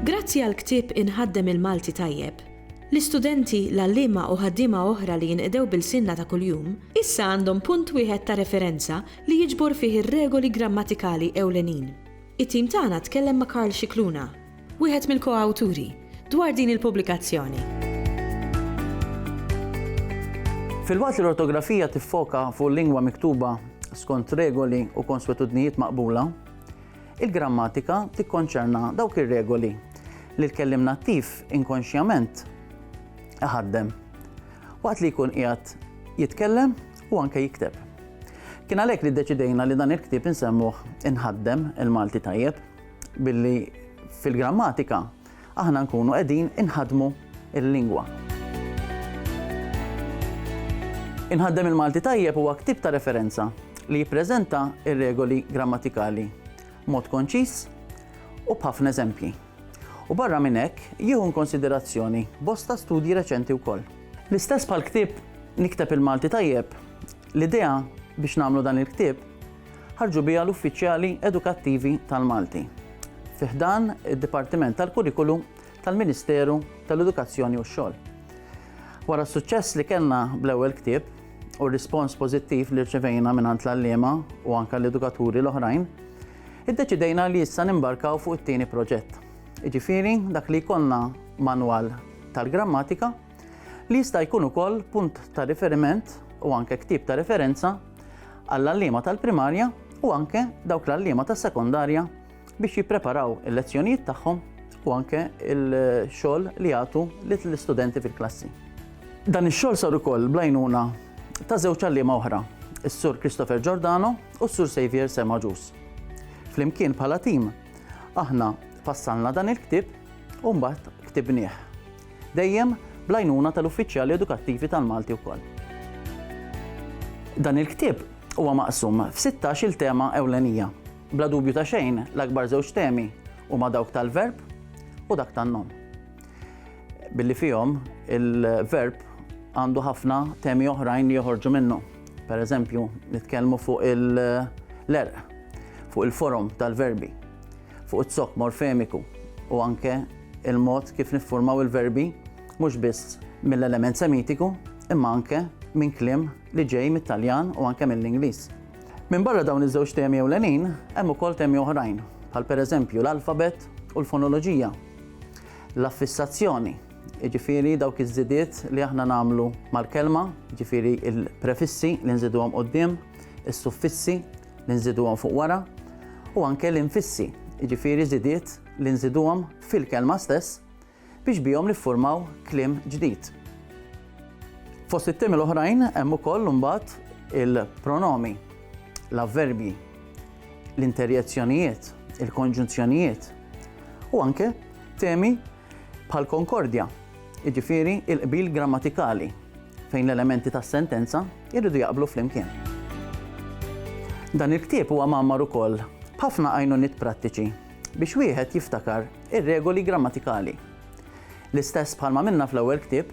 Grazzi għall-ktieb Inħaddem il-Malti Tajjeb, l-istudenti, l-għalliema u ħaddiema oħra li jinqdew b'ilsienna ta' kuljum, issa għandhom punt wieħed ta' referenza li jiġbor fih ir-regoli grammatikali ewlenin. It-tim tagħna tkellem ma' Karl Scicluna, wieħed mill-koawturi, dwar din il-pubblikazzjoni. Filwaqt li l-ortografija tiffoka fuq lingwa miktuba skont regoli u konswetudnijiet maqbula, il-grammatika tikkonċerna dawk ir-regoli li l-kellim nattiv inkonxjament iħaddem waqt li jkun qiegħed jitkellem u anke jikteb. Kien għalhekk li ddeċidejna li dan il-ktieb insemmuh inħaddem il-Malti tajjeb. Billi fil-grammatika aħna nkunu qegħdin inħaddmu l-lingwa. Inħaddem il-Malti Tajjeb huwa ktieb ta' referenza li jippreżenta r-regoli grammatikali b'mod konċiż u b'ħafna eżempji. U barra minn hekk, jieħu inkonsiderazzjoni bosta studji reċenti wkoll. L-istess bħall-ktieb Nikteb il-Malti Tajjeb, L-idea biex nagħmlu dan il-ktieb ħarġu biha l-uffiċjali edukattivi tal-Malti fi ħdan id-Dipartiment tal-Kurrikulu tal-Ministeru tal-Edukazzjoni u x-Xogħol. Wara s-suċċess li kellna bl-ewwel ktieb u r-rispons pożittiv li rċevejna mingħand l-għalliema u anke l-edukaturi l-oħrajn, iddeċidejna li issa nimbarkaw fuq it-tieni proġett. Jiġifieri dak li jkollna manwal tal-grammatika li jista' jkun ukoll punt ta' riferiment u anke ktib ta' referenza għall-għalliema tal-primarja u anke dawk l-għalliema tas-sekondarja biex jippreparaw il-lezzjonijiet tagħhom u anke il-xogħol li jagħtu lill-istudenti fil-klassi. Dan ix-xogħol sar ukoll blajnuna ta' żewġ għalliema oħra, is-Sur Christopher Giordano u s-Sur Xavier Semaġus. Flimkien bħala tim, aħna fassalna dan il-ktib u mbagħad ktibnieh. Dejjem bl-għajnuna tal-uffiċjali edukattivi tal-Malti wkoll. Dan il-ktieb huwa maqsum f'sittax-il tema ewlenija. Bla dubju ta' xejn, l-akbar żewġ temi huma dawk tal-verb u dak tan-nom. Billi fihom il-verb għandu ħafna temi oħrajn li joħorġu minnu. Per eżempju, nitkellmu fuq il-lerq, fuq il-forom tal-verbi. fuq iz-zokk morfemiku u anke il-mod kif niffurmaw il-verbi mhux biss mill-element semitiku imma anke minn kliem li ġej mit-Taljan u anke mill-Ingliż. Minbarra dawn iż-żewġ temi ewlenin, hemm ukoll temi oħrajn, bħal pereżempju l-alfabet u l-fonoloġija, l-affissazzjoni, jiġifieri dawk iż-żidiet li aħna nagħmlu mal-kelma, jiġifieri l-prefissi li nżiduhom quddiem, is-suffissi, li nżiduhom fuq wara, u anke l-infissi, jiġifieri żidiet li nżiduhom fil-kelma stess biex bihom niffurmaw kliem ġdid. Fost it-temi l-oħrajn hemm ukoll imbagħad il-pronomi, l-avverbji, l-interjezzjonijiet, il-konġunzjonijiet u anke temi bħal konkordja, jiġifieri l-qbil grammatikali fejn l-elementi tas-sentenza jridu jaqblu flimkien. Dan il-ktieb huwa mgħammar ukoll b'ħafna għajnuniet prattiċi biex wieħed jiftakar ir-regoli grammatikali. L-istess bħalma għamilna fl-ewwel ktieb,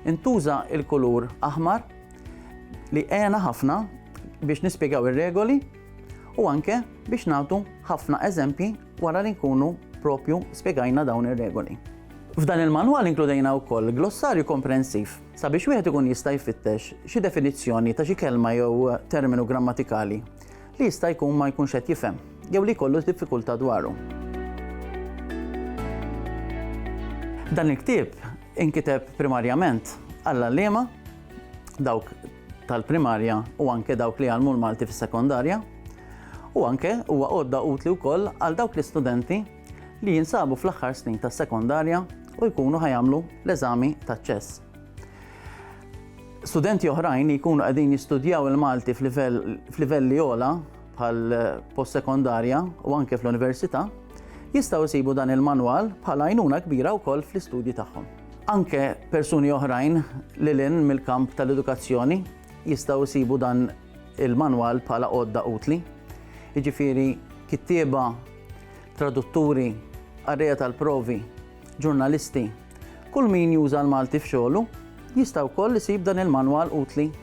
intuża l-kulur aħmar li għena ħafna biex nispjegaw ir-regoli u anke biex nagħtu ħafna eżempji wara li nkunu proprju spjegajna dawn ir-regoli. F'dan il-manwal inkludejna wkoll glossarju komprensiv sabiex wieħed ikun jista' jfittex xi definizzjoni ta' xi kelma jew terminu grammatikali li jista' jkun ma jkunx qed jifhem jew li jkollu diffikultà dwaru. Dan il-ktieb inkiteb primarjament għall-għalliema, dawk tal-primarja u anke dawk li jgħallmu l-Malti fis-sekondarja u anke huwa għodda utli wkoll għal dawk l-istudenti li jinsabu fl-aħħar snin tas-sekondarja u jkunu ħajamlu l-eżami taċ-ċess. Studenti oħrajn li jkunu qegħdin jistudjaw il-Malti f'livelli ola bħal post-sekondarja u anke fl-università jistgħu jsibu dan il-manwal bħala għajnuna kbira wkoll fl-istudji tagħhom. Anke persuni oħrajn lil hinn mill-kamp tal-edukazzjoni jistgħu jsibu dan il-manwal bħala għodda utli, jiġifieri kittieba, tradutturi, qarrejja tal-provi, ġurnalisti, kull min juża l-Malti f'xogħlu jista' wkoll isib dan il-manwal utli.